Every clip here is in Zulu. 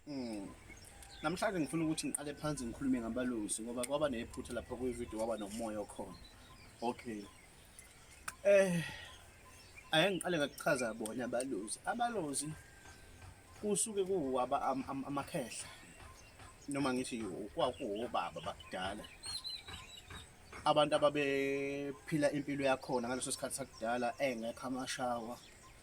Mm. Namhlanje ngifuna ukuthi ngiqale phansi ngikhulume ngabalusi ngoba kwaba nephutha lapha kwi-video waba nomoya okhona. Okay. Eh ake ngiqale ngakuchaza bona abalusi. Abalozi kusuke kuwaba amakhehla noma ngithi kwakuwobaba bakudala abantu ababephila impilo yakhona ngaleso sikhathi sakudala engekho amashawa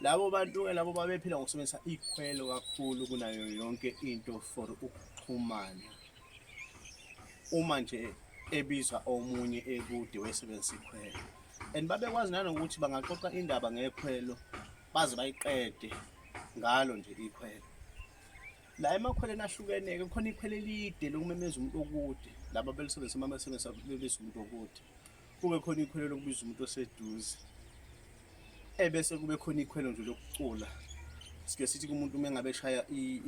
Labo bantu-ke labo babephila ngokusebenzisa ikhwelo kakhulu kunayo yonke into for ukuxhumana. Uma nje ebizwa omunye ekude wesebenzisa ikhwelo and babekwazi nanokuthi bangaxoxa indaba ngekhwelo baze bayiqede ngalo nje ikhwelo. La emakhweleni ahlukene-ke kukhona ikhwele elide lokumemeza umuntu okude laba belisebenzisa uma besebenzisa bebizwa umuntu okude. kube khona ikhwelo lokubiza umuntu oseduze ebese kube khona ikhwelo nje lokucula sike sithi kumuntu uma engabe eshaya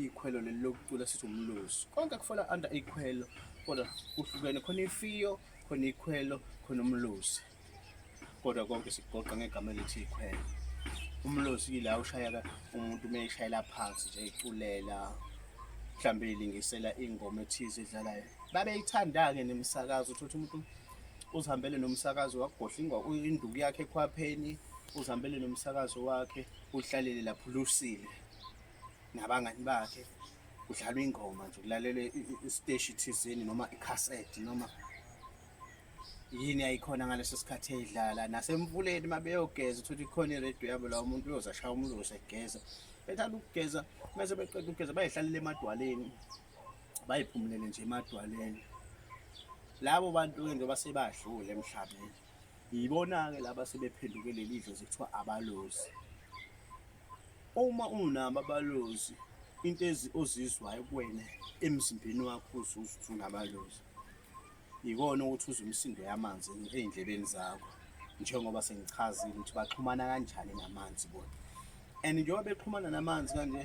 ikhwelo leli lokucula sithi umlozi konke kufola under ikhwelo kodwa kuhlukene khona ifiyo khona ikhwelo khona umlozi kodwa konke sikugoqa ngegama elithi ikhwelo umlozi yila ushayeka umuntu uma eshayela phansi nje eculela mhlawumbe ilingisela ingoma ethize edlalayo babeyithanda-ke nemisakazo uthotha umuntu uzihambele nomsakazo wakugodlingwa induku yakhe ekhwapheni uzihambele nomsakazo wakhe uhlalele lapho lusile nabangani bakhe kudlalwa ingoma nje kulalelwe isiteshi thizeni noma ikhaseti noma yini ayikhona ngaleso sikhathi eyidlala nasemvuleni uma beyogeza uthole ikhona iredio yabo la umuntu uyoze ashaya umlozi egeza bethanda ukugeza mese beqeda ukugeza bayihlalele emadwaleni bayiphumulele nje emadwaleni labo bantu-ke njengoba sebadlule emhlabeni yibona-ke laba sebephenduke leli dlozi kuthiwa abalozi uma unabo abalozi into ozizwayo kuwena emzimbeni wakho uzuzwa unabalozi Yikona ukuthi uzwe imisindo yamanzi ey'ndlebeni zakho njengoba sengichazile ukuthi baxhumana kanjani namanzi bona and njengoba bexhumana namanzi kanje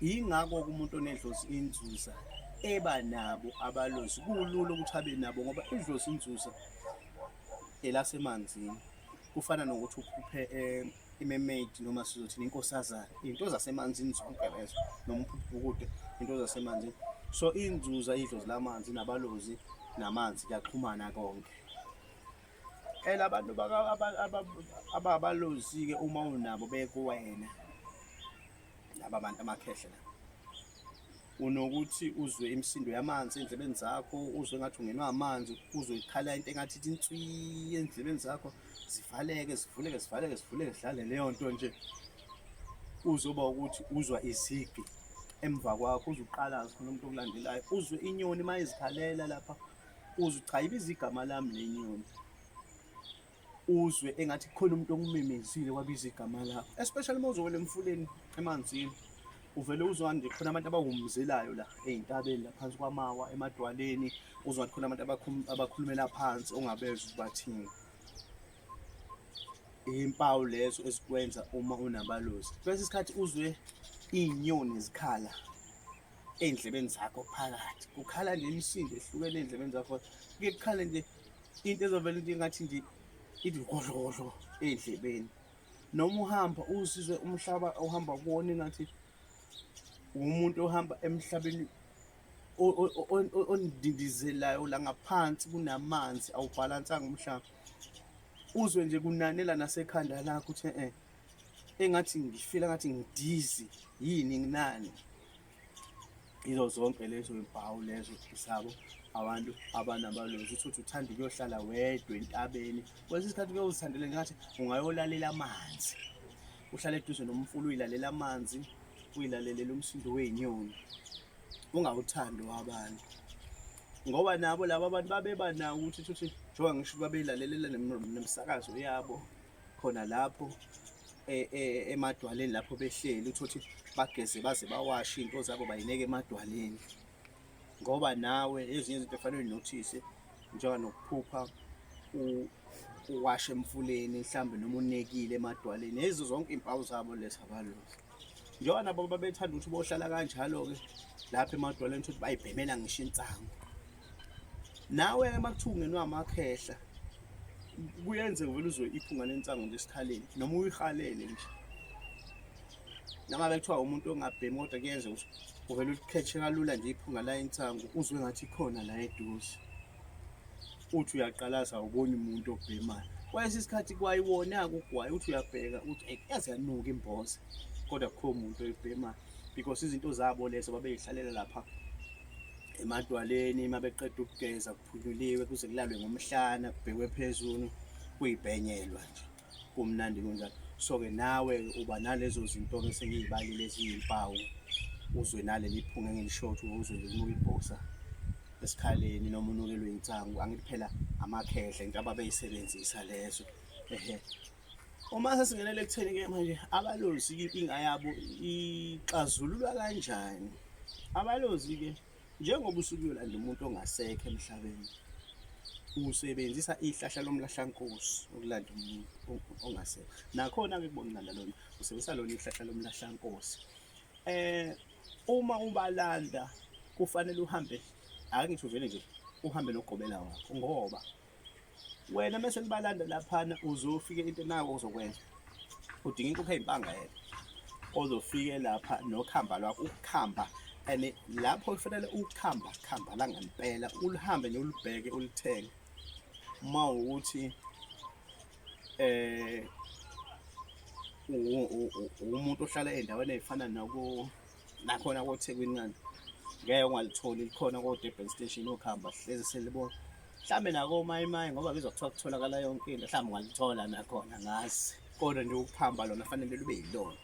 yingakho kumuntu onedlozi inzuza eba nabo abalozi kulula ukuthi abe nabo ngoba idlozi inzuza elasemanzini kufana nokuthi uphuphe eh, imermaid noma sizothini inkosazana into zasemanzini zonke lezo noma uphuphukude into zasemanzini so inzuza idlozi lamanzi nabalozi namanzi kuyaxhumana konke ela abantu ababalozi-ke uma unabo bekuwena laba bantu amakhehle la unokuthi uzwe imisindo yamanzi endlebeni zakho uzwe ngathi ungenwa amanzi uzwe ikhala into engathi ithi inswi endlebeni zakho zivaleke zivuleke zivaleke zivuleke zidlale leyo nto nje uzoba ukuthi uzwa izigi emva kwakho uzuqalaza khona umuntu okulandelayo uzwe inyoni uma izikhalela lapha uzuchayiba izigama lami le nyoni uzwe engathi kukhona umuntu okumemezile wabiza igama lakho especially uma uzowela emfuleni emanzini uvele uzwa nje khona abantu abawumzelayo la ey'ntabeni la phansi kwamawa emadwaleni uzwa khona abantu abakhulumela phansi ongabezwa ubathini iy'mpawu lezo ezikwenza uma unabalozi kwesinye isikhathi uzwe iy'nyoni zikhala ey'ndlebeni zakho phakathi kukhala nje imisindo ehlukene ey'ndlebeni zakho kuye kukhale nje into ezovela into engathi nje ithi ngohlokohlo ey'ndlebeni noma uhamba uzizwe umhlaba ohamba kuwona engathi umuntu ohamba emhlabeni ondindizelayo la ngaphansi kunamanzi awubhalansanga umhlaba uzwe nje kunanela nasekhanda lakho ukuthi eh engathi ngifila ngathi ngidizi yini nginani yizo zonke lezo mpawu lezo zabo abantu abanabalozi ukuthi uthanda ukuyohlala wedwa entabeni kwesinye isikhathi kuye uzithandele ngathi ungayolalela amanzi uhlale eduze nomfula uyilalela amanzi uyilalelele umsindo wey'nyoni ungawuthandi wabantu ngoba nabo laba abantu babeba nawo ukuthi ukuthi njengoba ngisho babeyilalelela nemisakazo yabo khona lapho e, e, emadwaleni lapho behleli uthothe bageze baze bawashe into zabo bayineke emadwaleni ngoba nawe ezinye izinto efanele nothise njengoba nokuphupha uwashe emfuleni mhlambe noma unekile emadwaleni ezo zonke impawu zabo lezi abalozi njengoba nabo babethanda ukuthi bohlala kanjalo-ke lapha emadwaleni ukuthi bayibhemela ngisho insangu nawe ke makuthungenwe amakhehla kuyenze vele uzwe iphunga lensango nje esikhaleni noma uyihalele nje nangabe kuthiwa umuntu ongabhemi kodwa kuyenze ukuthi uvele ulikhethe kalula nje iphunga la insangu uzwe ngathi ikhona la eduze uthi uyaqalaza uboni umuntu obhemayo kwayesi isikhathi kwayiwona-ke ugwayi uthi uyabheka uthi eyi yaze yanuka imboza kodwa kukho muntu oyibhemayo because izinto zabo lezo babeyihlalela lapha emadwaleni uma beqeda ukugeza kuphunyuliwe kuze kulalwe ngomhlana kubhekwe phezulu kuyibhenyelwa nje kumnandi kunjalo so-ke nawe uba nalezo zinto-ke esengiy'balile eziyimpawu uzwe naleli phunga engilishothi uzwe linuka ibhosa esikhaleni noma unukelwe insangu angithi phela amakhehla into ababeyisebenzisa lezo ehe Uma sesingenele ekutheni ke manje abalozi inkinga yabo ixazululwa kanjani? Abalozi ke njengoba usuke uyolanda umuntu ongasekho emhlabeni usebenzisa ihlahla lomlahlankosi ukulanda umuntu ongasekho nakhona ke kubonakala lona usebenzisa lona ihlahla lomlahlankosi eh uma ubalanda kufanele uhambe akengisho vele nje uhambe nogobela wakho ngoba wena mese nibalanda laphana uzofike into nawo ozokwenza udinga inkukhu eyimpanga yena ozofike lapha nokhamba lwakho ukukhamba and lapho kufanele ukukhamba khamba la ngempela ulihambe nolubheke ulithenge uma ukuthi eh umuntu ohlala endaweni efana nako nakhona koThekwini ngani ngeke ungalitholi likhona ko-Durban station ukuhamba hlezi selibona mhlawumbe nakomayimayi ngoba bizwa kuthiwa kutholakala yonke into mhlawumbe ungalithola nakhona ngazi kodwa nje ukuhamba lona fanele lube yilona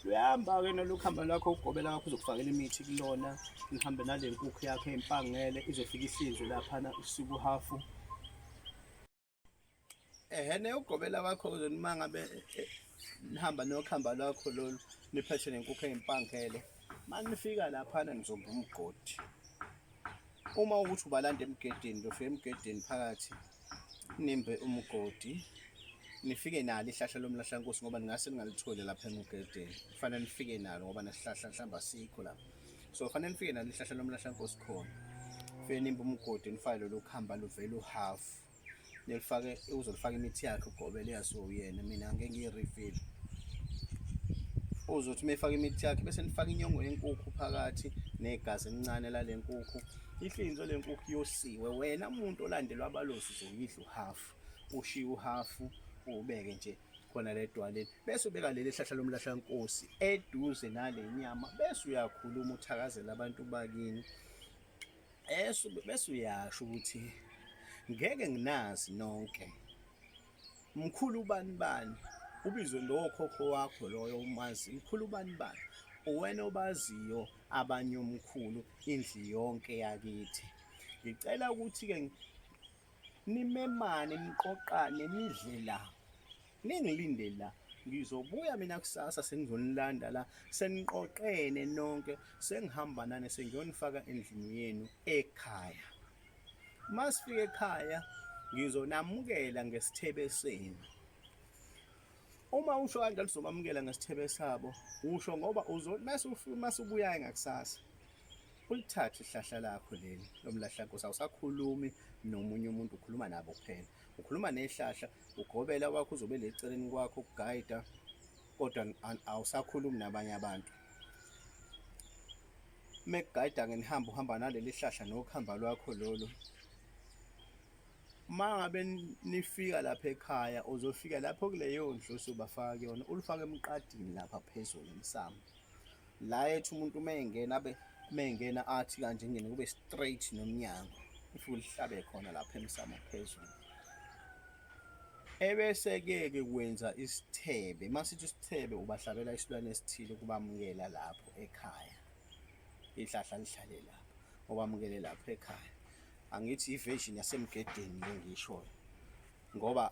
luyahamba-ke nolukuhamba lwakho ukugobela kwakho uzokufakela imithi kulona nihambe nale nkukhu yakho empangele izofika ihlinzwe laphana usuku uhafu ehene ugqobela wakho uzonimanga be e, e, nihamba nokhamba lwakho lolu niphethe nenkukhu eyimpangele manje nifika laphana nizomba umgodi uma ukuthi ubalanda emgedeni lofika emgedeni phakathi nimbe umgodi nifike nalo ihlahla lomlahla nkosi ngoba ningase ningalitholi lapha emgedeni kufanele nifike nalo ngoba nesihlahla mhlawumbe asikho lapha so kufanele nifike nalo ihlahla lomlahla nkosi khona fike nimbe umgodi nifake lolu khamba luvele uhafu nelifake uzolifaka imithi yakhe ugobele yaso uyena mina ngeke ngiyirefill uzothi mefaka imithi yakhe bese nifaka inyongo yenkukhu phakathi negazi elincane lale nkukhu ihlinzo lenkukhu yosiwe wena umuntu olandelwa abalozi zoyidla uhafu ushiya uhafu ubeke nje khona ledwaleni bese ubeka leli hlahla lomlahlankosi eduze nale nyama bese uyakhuluma uthakazela abantu bakini Yesu bese uyasho ukuthi ngeke nginazi nonke mkhulu ubani bani ubizwe lowokhokho wakho loyo umazi mkhulu ubani bani uwena obaziyo abanye omkhulu indli yonke yakithi ngicela ukuthi-ke nimemane niqoqane nidle la Ningilinde la ngizobuya mina kusasa sengizonilanda la seniqoqene nonke sengihamba nane sengiyonifaka endlini yenu ekhaya masifike ekhaya ngizonamukela ngesithebe senu uma usho kanjalo sizomamukela ngesithebe sabo usho ngoba uzo masubuya ngakusasa ulithathe ihlahla lakho leli lomlahla nkosi awusakhulumi nomunye umuntu ukhuluma nabo kuphela ukhuluma nehlahla ugobela wakho uzobe leceleni kwakho ukugayida kodwa awusakhulumi nabanye abantu mekugayida ngenihamba uhamba naleli hlahla nokuhamba lwakho lolu uma ngabe nifika lapha ekhaya uzofika lapho kuleyo ndlu usubafaka kuyona ulufake emqadini lapha phezulu emsamo la ethi umuntu uma engena abe uma engena athi kanje ngene kube straight nomnyango if ulihlabe khona lapha emsamo phezulu ebese-ke ke kwenza isithebe uma sithi isithebe ubahlabela isilwane esithile ukubamukela lapho ekhaya ihlahla lihlale lapho obamukele lapho ekhaya angithi iversion yasemgedeni le ngishoyo ngoba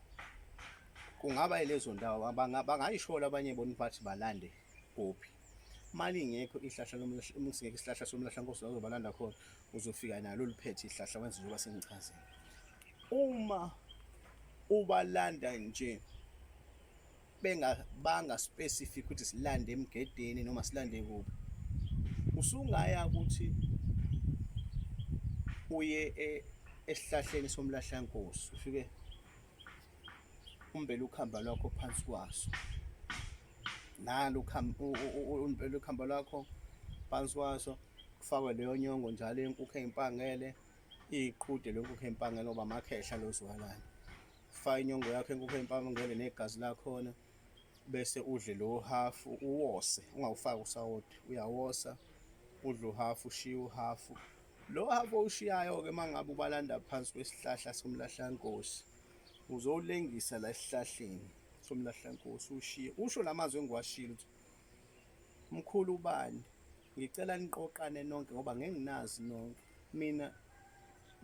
kungaba ilezo ndawo bangayishola abanye bona bathi balande Gophi. Mali ingekho ihlahla lomlahla uma singekho isihlahla somlahla nkosi wazobalanda khona uzofika nalo liphethe ihlahla wenze njengoba sengichazile. Uma ubalanda nje benga banga specific ukuthi silande emgedeni noma silande kuphi. Usungaya ukuthi uye e, esihlahleni somlahla nkosi ufike umbele ukhamba lwakho phansi kwaso nalo umbele ukhamba lwakho phansi kwaso kufakwe leyo nyongo njalo yenkukhu eyimpangele iqhude lenkukhu eyimpangele ngoba amakhehla lozwalana faka inyongo yakho enkukhu eyimpangele negazi lakhona bese udle lo half uwose ungawufaki usawoti uyawosa udle uhalf ushiye uhalf Lo hhafu owushiyayo-ke uma ngabe ubalanda phansi kwesihlahla somlahlankosi uzowulengisa la esihlahleni somlahlankosi ushiye usho la mazwi engiwashilo ukuthi mkhulu ubani ngicela niqoqane nonke ngoba ngeke nginazi nonke mina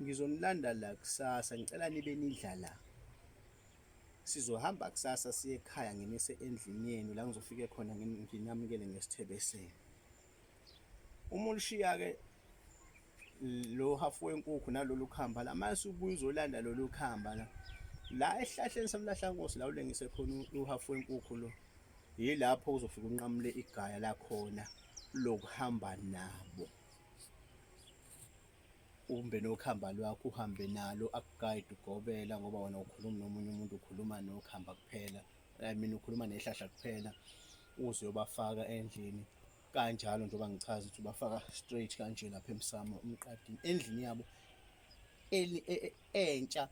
ngizonilanda la kusasa ngicela nibe nidla la sizohamba kusasa siye ekhaya nginise endlini yenu la ngizofike khona nginamukele ngesithebe senu Uma ulishiya-ke lo hafu wenkukhu nalolu khamba la mase ubuye uzolanda lolu khamba la la esihlahleni samlahlankosi la ulengise khona uhafu wenkukhu lo yilapho uzofika unqamule igaya lakhona lokuhamba nabo umbe nokhamba lwakho uhambe nalo akugayide ugobela ngoba wena ukhuluma nomunye umuntu ukhuluma nokhamba kuphela I mean ukhuluma nehlahla kuphela uze uyobafaka endlini kanjalo njengoba ngichaza ukuthi bafaka straight kanje lapha emsamo umqadini endlini yabo e, e, entsha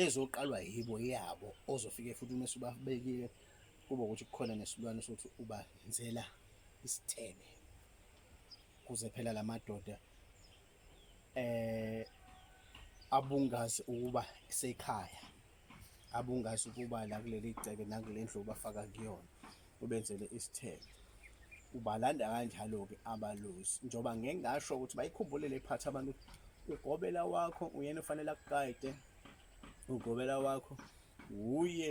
ezoqalwa yibo yabo ozofike futhi uma subabekile kuba ukuthi kukhona nesilwane sokuthi ubazenzela isithebe kuze phela lamadoda eh abungazi ukuba isekhaya abungazi ukuba la kuleli gceke nakule ndlu bafaka kuyona ubenzele isithebe ubalanda kanjalo-ke abalozi njengoba ngeke ngasho ukuthi bayikhumbule le phathi abantu ugobela wakho uyena ufanele akuqayde ugobela wakho wuye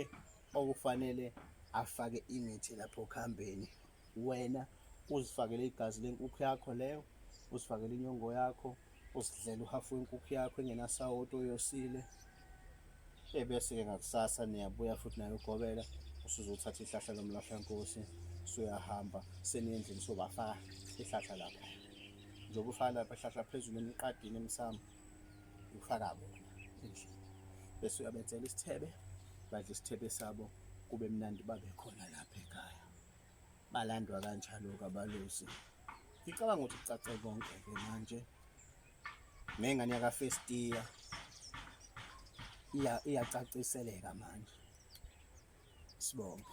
okufanele afake imithi lapho kuhambeni wena uzifakele igazi lenkukhu yakho leyo uzifakele inyongo yakho usidlela uhafu wenkukhu yakho engenasawoti oyosile ebese-ke ngakusasa niyabuya futhi nayo ugobela usuzothatha ihlahla lomlahlankosi suyahamba seniyendlini sobafaka ihlahla lapha njengoba ufaka lapha ihlahla phezulu emiqadini emsamo ufaka bona endlini bese uyabenzela isithebe badla isithebe sabo kube mnandi babe khona lapha ekhaya balandwa kanjalo-ke abalusi ngicabanga ukuthi kucace konke-ke manje nengane yakafestiya iyacaciseleka manje sibonge